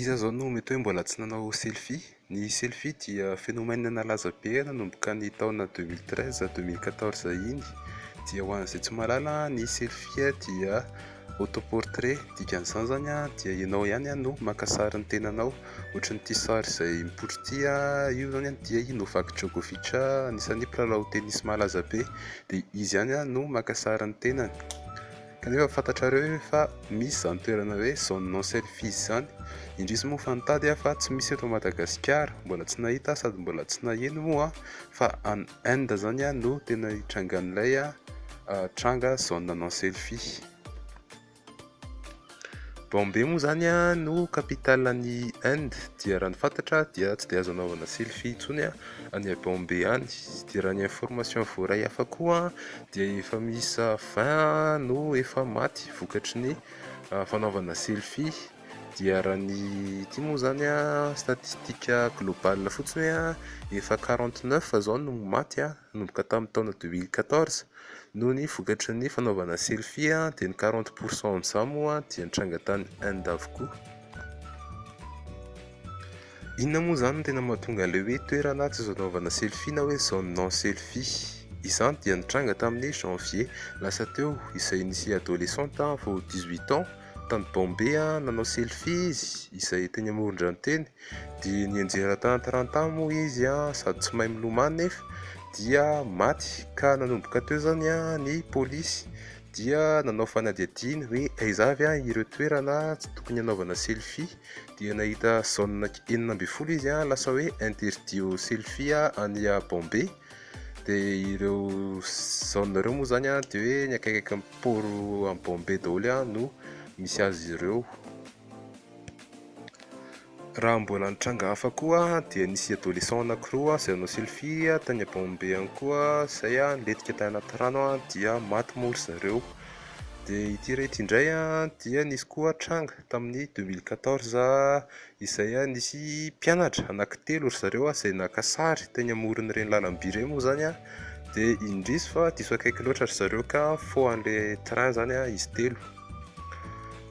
Iza izao no mety hoe mbola tsy nanao selfie? Ny selfie dia phénomène nalaza be nanomboka ny taona deux mille treize à deux mille quatorze iny. Dia ho an'izay tsy mahalala ny selfie dia autoportrait. Dikan'izany izany dia ianao ihany no maka sary ny tenanao. Ohatran'ity sary izay mipoitra ity io izany dia i Novak Djokovic anisan'ny mpilalao tenisy malaza be dia izy ihany no maka sary ny tenany. Kanefa fantatrareo ve fa misy izany toerana hoe zone non selfies izany? Indrisy moa fa nitady aho fa tsy misy eto Madagasikara, mbola tsy nahita aho sady mbola tsy naheno moa fa any Inde izany no tena itrangan'ilay tranga zone non selfies. Bombay moa izany no capitale an'i Inde dia raha ny fantatra dia tsy dia azo anaovana selfie intsony any Bombay any, dia raha ny information voaray hafa koa dia efa miisa vingt no efa maty vokatry ny fanaovana selfie, dia raha ny ity moa izany statistika globale fotsiny hoe efa quarante neuf izao no maty nanomboka tamin'ny taona deux mille quatorze noho ny vokatry ny fanaovana selfie, dia ny quarante pour cent amin'izany moa dia nitranga tany Inde avokoa. Inona moa izany no tena mahatonga an'ilay hoe toerana tsy azo anaovana selfie na hoe zone non selfie? Izany dia nitranga tamin'ny janvier lasa teo izay nisy adolescente vao dix huit ans tany Bombay nanao selfie izy izay teny amoron-drano teny dia nianjera tahantarantany moa izy sady tsy mahay milomano nefa dia maty ka nanomboka teo izany ny polisy dia nanao fanadihadiana hoe aiza avy ireo toerana tsy tokony hanaovana selfie. dia nahita zone enina ambin'ny folo izy a lasa hoe interdit au selfie a any a Bombay dia ireo zone ireo moa zany a dia hoe ny akaikaiky ny port any Bombay daholo a no misy azy ireo raha mbola nitranga hafa koa dia nisy adolescent anankiroa izay nanao selfie tany a Bombay ihany koa izay a nilentika tany anaty rano a dia maty moa ry zareo dia ity iray ity indray a dia nisy koa tranga tamin'ny deux mille quatorze izay nisy mpianatra anankitelo ry zareo izay naka sary teny amoron'ireny lalamby ireny moa izany dia indrisy fa diso akaiky loatra ry zareo ka faux an'ilay train izany izy telo.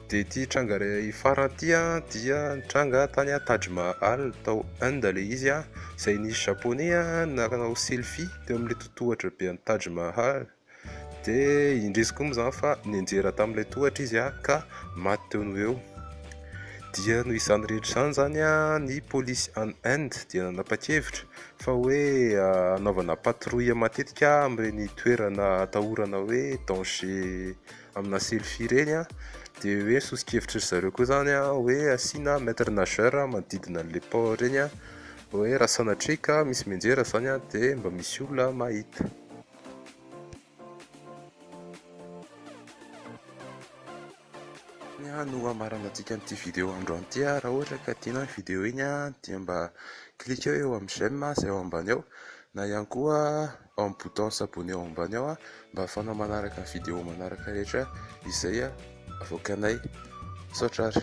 Dia ity tranga iray farany ity dia nitranga tany Taj Mahal tao Inde ilay izy izay nisy japoney nanao selfie teo amin'ilay totohatra be an'i Taj Mahal. Dia indrisy koa moa izany fa nianjera tamin'ilay tohatra izy ka maty teo noho eo. Dia noho izany rehetra izany izany ny polisy any Inde dia nanapa-kevitra fa hoe hanaovana patrouille matetika amin'ireny toerana atahorana hoe danger aminà selfie ireny dia hoe ny soso-kevitry ry zareo koa izany hoe asiana maitre nageur manodidina an'ilay port ireny hoe raha sanatria ka misy mianjera izany dia mba misy olona mahita. no hamaranantsika an'ity vidéo androany ity raha ohatra ka tiana ny vidéo iny dia mba cliquer eo amin'ny j'aime izay ao ambany eo na ihany koa ao amin'ny bouton s'abonner ao ambany eo mba ahafahanao manaraka ny vidéo manaraka rehetra izay avoakanay. Misaotra ary.